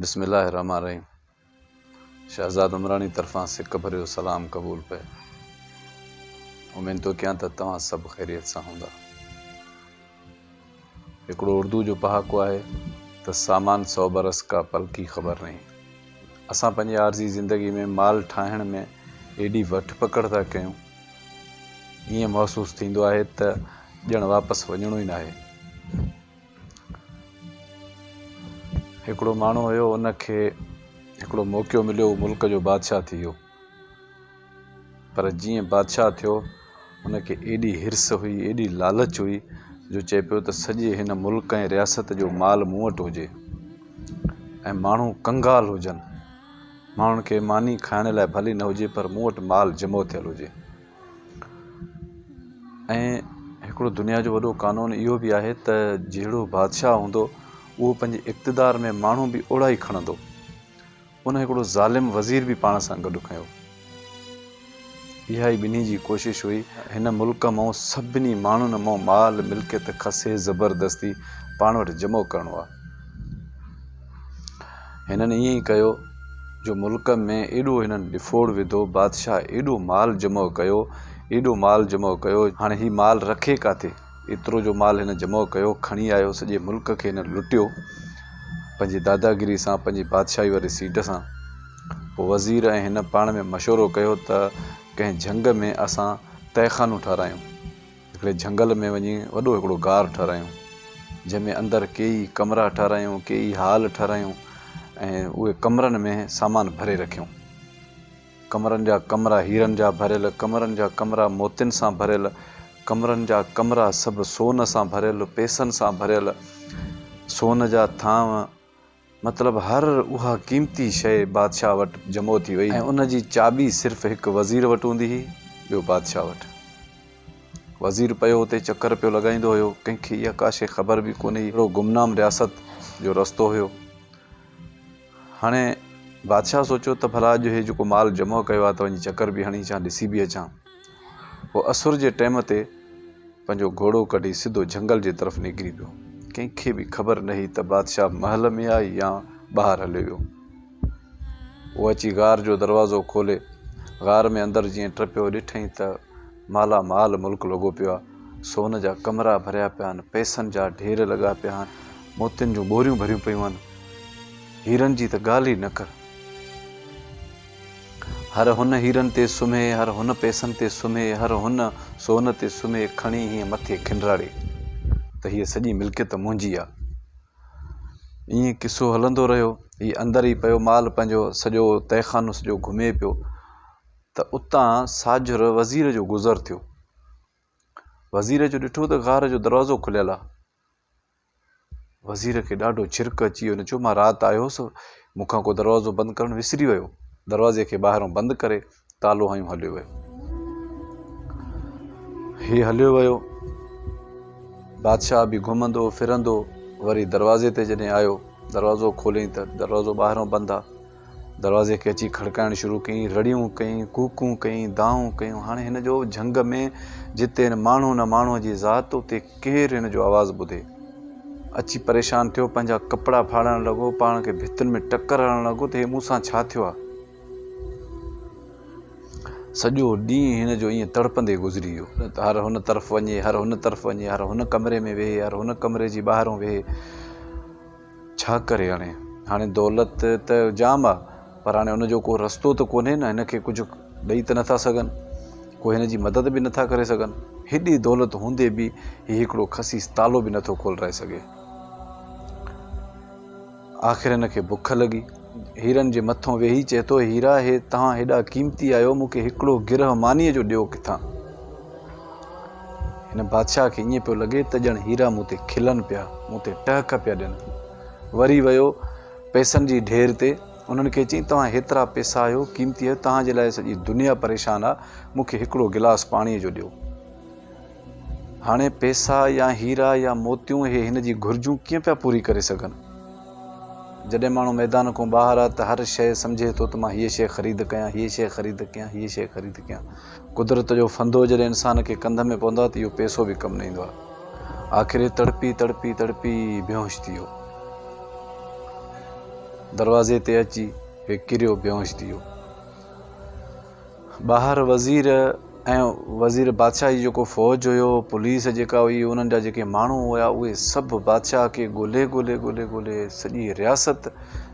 بسم الله الرحمٰن الرحيم شهزاد عمراڻي طرفان سڪ ڀريو سلام قبول پئي اميد ٿو ڪيان ته توهان سڀ خيريت سان هوندا هڪڙو اردو جو پهاڪو آهي ته سامان سو برس کا پل کي خبر نهي اسان پنهنجي عارضي زندگي ۾ مال ٺاهڻ ۾ ايڏي وٺ پڪڙ ٿا ڪيون ائين محسوس ٿيندو آهي ته ڄڻ واپس وڃڻو ئي ناهي هڪڙو ماڻهو هيو ان کي هڪڙو موقعو مليو هو ملڪ جو بادشاهه ٿي ويو پر جيئن بادشاهه ٿيو ان کي ايڏي هرس هئي ايڏي لالچ هئي جو چئي پيو ته سڄي هن ملڪ ۽ رياست جو مال مون وٽ هجي ۽ ماڻهو ڪنگال هجن ماڻهن کي ماني کائڻ لاء ڀلي نه هجي پر مون وٽ مال جمع ٿيل هجي ۽ هڪڙو دنيا جو وڏو قانون اهو به آهي ته جهڙو بادشاهه هوندو اهو پنهنجي اقتدار ۾ ماڻهو به اوڙا ئي کڻندو. ان هڪڙو ظالم وزير به پاڻ سان گڏ کنيو. اها ئي ٻنهي جي ڪوشش هئي. هن ملڪ مئو سڀني ماڻهن مئو مال ملڪيت کسي زبردستي پاڻ وٽ جمع ڪرڻو آهي. هنن ائين ئي ڪيو جو ملڪ ۾ ايڏو هنن ڏڦوڙ وڌو، بادشاهه ايڏو مال جمع ڪيو، ايڏو مال جمع ڪيو، هاڻي هي مال رکي ڪاٿي؟ ايترو جو مال هن جمع ڪيو، کڻي آيو، سڄي ملڪ کي هنن لٽيو، پنهنجي داداگيري سان، پنهنجي بادشاهي واري سيٽ سان. پوء وزير ۽ هن پاڻ ۾ مشورو ڪيو ته ڪنهن جهنگ ۾ اسان تهخانو ٺارايون. هڪڙي جهنگل ۾ وڃي وڏو هڪڙو غار ٺهرايون، جنهن ۾ اندر ڪيئي ڪمرا ٺهرايون، ڪيئي هال ٺهرايون ۽ اهي ڪمرن ۾ سامان ڀري رکيون. ڪمرن جا ڪمرا هيرن جا ڀريل، ڪمرن جا ڪمرا موتين سان ڀريل، ڪمرن جا ڪمرا سڀ سون سان ڀريل، پئسن سان ڀريل، سون جا ٿانو، مطلب هر اها قيمتي شيء بادشاهه وٽ جمع ٿي وئي ۽ ان جي چاٻي صرف هڪ وزير وٽ هوندي هئي ٻيو بادشاهه وٽ. وزير پيو اتي چڪر پيو لڳائيندو هيو، ڪنهن کي اها ڪا شيء خبر به ڪونهي هئي، اهڙو گمنام رياست جو رستو هيو. هاڻي بادشاهه سوچيو ته ڀلا اڄ هي جيڪو مال جمع ڪيو آهي ته وڃي چڪر به هڻي اچان ڏسي به اچان. هو اسر جي ٽيم تي پنهنجو گهوڙو ڪڍي سڌو جهنگل جي طرف نڪري پيو. ڪنهن کي به خبر نه هئي ته بادشاهه محل ۾ آهي يا ٻاهر هليو ويو. هو اچي غار جو دروازو کولي غار ۾ اندر جيئن ٽپيو ڏٺئين ته مالا مال ملڪ لڳو پيو آهي. سون جا ڪمرا ڀريا پيا آهن، پئسن جا ڍير لڳا پيا آهن، موتين جون ٻوريون ڀريون پيون آهن، هيرن جي ته ڳالهه ئي نه ڪر. هر هن هيرن تي سمهي، هر هن پئسن تي سمهي، هر هن سون تي سمهي، کڻي هيئن مٿي کنڊراڙي ته هيء سڄي ملڪيت منهنجي آ. ائين قصو هلندو رهيو. هي اندر ئي پيو مال پنهنجو سڄو تهخانو سڄو گهمي پيو ته اتان ساجهر وزير جو گذر ٿيو. وزير جو ڏٺو ته غار جو دروازو کليل آ. وزير کي ڏاڍو ڇرڪ اچي ويو، هن چيو، مان رات آيو هوس، مون کان ڪو دروازو بند ڪرڻ وسري ويو. دروازي کي ٻاهران بند ڪري، تالو هنيو هليو ويو. هي هليو ويو. بادشاهه به گهمندو ڦرندو وري دروازي تي جڏهن آيو، دروازو کوليائين ته دروازو ٻاهران بند آ. دروازي کي اچي کڙڪائڻ شروع ڪيائين، رڙيون ڪيائين، ڪوڪون ڪيائين، دانهون ڪيون. هاڻي هن جو جهنگ ۾ جتي هن ماڻهو نه ماڻهوء جي ذات، اتي ڪير هن جو آواز ٻڌي. اچي پريشان ٿيو، پنهنجا ڪپڙا ڦاڙڻ لڳو، پاڻ کي ڀتين ۾ ٽڪر هڻڻ لڳو ته هي مون سان ڇا ٿيو آهي؟ سڄو ڏينهن هن جو ائين تڙپندي گذري ويو. هر هن طرف وڃي، هر هن طرف وڃي، هر هن ڪمري ۾ ويهي، هر هن ڪمري جي ٻاهرون ويهي. ڇا ڪري هاڻي هاڻي دولت ته جام آ پر هاڻي ان جو ڪو رستو ته ڪونهي نه هن کي ڪجهه ڏئي ته نٿا سگهن ڪو هن جي مدد به نٿا ڪري سگهن هيڏي دولت هوندي به هي هڪڙو خسيس تالو به نٿو کولرائي سگهي آخر هن کي بک لڳي هيرن جي مٿو ويهي چئي ٿو هيرا هي تهان هيڏا قيمتي آهيو مون کي هڪڙو گرهه مانيء جو ڏيو ڪٿان هن بادشاهه کي ائين پيو لڳي ته ڄڻ هيرا مون تي کلن پيا، مون تي ٽهڪ پيا ڏين. وري ويو پئسن جي ڍير تي، انهن کي چيائين، توهان هيترا پئسا آهيو، قيمتي آهيو، توهان جي لاء سڄي دنيا پريشان آهي، مون کي هڪڙو گلاس پاڻيء جو ڏيو. هاڻي پئسا يا هيرا يا موتيون اهي هن جي گهرجون ڪيئن پيا پوري ڪري سگهن؟ جڏهن ماڻهو ميدان کان ٻاهر آهي ته هر شيء سمجهي ٿو ته مان هيء شيء خريد ڪيان، هيء شيء خريد ڪيان، هيء شيء خريد ڪيان. قدرت جو ڦندو جڏهن انسان کي ڪنڌ ۾ پوندو آهي ته اهو پيسو به ڪم نه ايندو آهي. آخر هي تڙپي تڙپي تڙپي بيهوش ٿي ويو. دروازي تي اچي هي ڪريو بيهوش ٿي ويو. ٻاهر وزير ۽ وزير بادشاهه جي جيڪو فوج هيو، پوليس جيڪا هئي، انهن جا جيڪي ماڻهو هيا، اهي سڀ بادشاهه کي ڳولهي ڳولهي ڳولهي ڳولهي سڄي رياست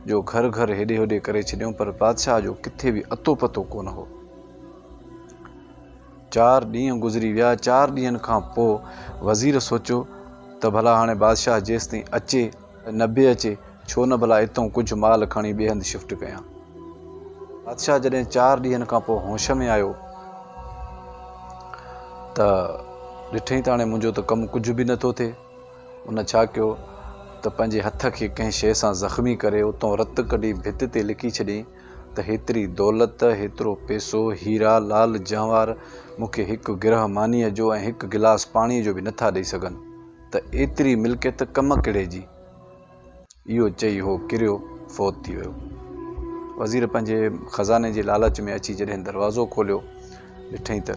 جو گهر گهر هيڏي هوڏي ڪري ڇڏيائون پر بادشاهه جو ڪٿي به اتو پتو ڪونه هو. چار ڏينهن گذري ويا. چار ڏينهن کان پوء وزير سوچيو ته ڀلا هاڻي بادشاهه جيستائين اچي ته نه به اچي، ڇو نه ڀلا اتئون ڪجهه مال کڻي ٻئي هنڌ شفٽ ڪيان. بادشاهه جڏهن چار ڏينهن کان پوء هوش ۾ آيو ته ڏٺئين ته هاڻي منهنجو ته ڪم ڪجهه به نٿو ٿئي. ان ڇا ڪيو ته پنهنجي هٿ کي ڪنهن شيء سان زخمي ڪري اتئون رت ڪڍي ڀت تي لکي ڇڏيائين ته هيتري دولت، هيترو پئسو، هيرا، لعل جنواهر مون کي هڪ گرهه مانيء جو ۽ هڪ گلاس پاڻيء جو به نٿا ڏئي سگهن، ته ايتري ملڪيت ڪم ڪهڙي جي؟ اهو چئي هو ڪريو فوت ٿي ويو. وزير پنهنجي خزاني جي لالچ ۾ اچي جڏهن دروازو کوليو، ڏٺئي ته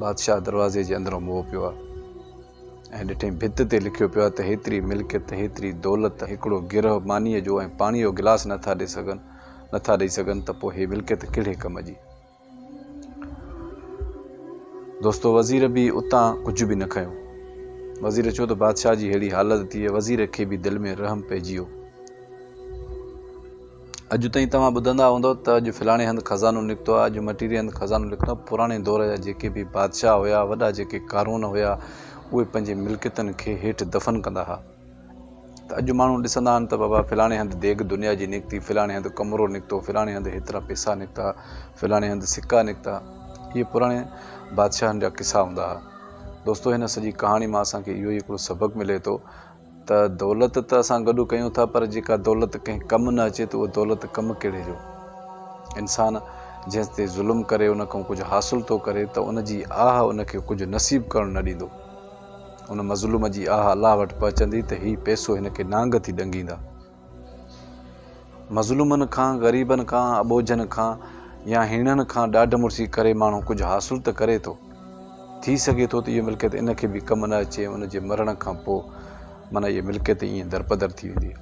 بادشاهه دروازي جي اندرون موهه پيو آ. ۽ ڏٺئين ڀت تي لکيو پيو آهي ته هيتري ملڪيت، هيتري دولت، هڪڙو گرهه مانيء جو ۽ پاڻيء جو گلاس نه ٿا ڏئي سگهن، نه ٿا ڏئي سگهن ته پوء هي ملڪيت ڪهڙي ڪم جي؟ دوستو وزير به اتان ڪجهه به نه کنيو. وزير چيو ته بادشاهه جي ههڙي حالت ٿي وزير کي به دل ۾ رحم پئجي ويو. اڄ تائين توهان ٻڌندا هوندؤ ته اڄ فلاڻي هنڌ خزانو نڪتو آهي، اڄ مٽيري هنڌ خزانو نڪتو آهي. پراڻي دور جا جيڪي به بادشاهه هيا، وڏا جيڪي قارون هيا، اهي پنهنجي ملڪيتن کي هيٺ دفن ڪندا ها ته اڄ ماڻهو ڏسندا آهن ته بابا فلاڻي هنڌ ديڳ دنيا جي نڪتي، فلاڻي هنڌ قمرو نڪتو، فلاڻي هنڌ هيترا پئسا نڪتا، فلاڻي هنڌ سڪا نڪتا. اهي پراڻي بادشاهن جا قصا هوندا ها. دوستو هن سڄي ڪهاڻي مان اسان کي اهو ئي هڪڙو سبق ملي ٿو. ته دولت ته اسان گڏو ڪيون ٿا پر جيڪا دولت ڪنهن ڪم نه اچي ته اهو دولت ڪم ڪهڙي جو؟ انسان جنهن تي ظلم ڪري ان کان ڪجهه حاصل ٿو ڪري ته ان جي آهه ان کي ڪجهه نصيب ڪرڻ نه ڏيندو. ان مظلوم جي آهه الله وٽ پهچندي ته هي پئسو هن کي نانگ ٿي ڏنگيندا. مظلومن کان، غريبن کان، اٻوجهن کان يا هيڻن کان ڏاڍ مڙسي ڪري ماڻهو ڪجهه حاصل ته ڪري ٿو. ٿي سگهي ٿو ته اهو ملڪيت ان کي به ڪم نه اچي ۽ ان جي مرڻ کان پوء معنيٰ اهي ملڪيت ائين درپدر ٿي ويندي.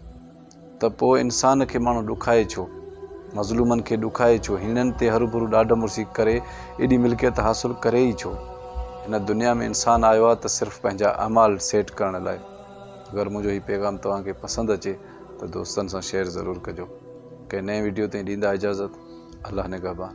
ته پوء انسان کي ماڻهو ڏکائي ڇو؟ مظلومن کي ڏکائي ڇو؟ هيڻن تي هروڀرو ڏاڍ مڙسي ڪري ايڏي ملڪيت حاصل ڪري ئي ڇو؟ هن دنيا ۾ انسان آيو آهي ته صرف پنهنجا اعمال سيٽ ڪرڻ لاء. اگر منهنجو هي پيغام توهان کي پسند اچي ته دوستن سان شيئر ضرور ڪجو ڪنهن نئين ويڊيو تائين ڏيندا اجازت الله نگهبان.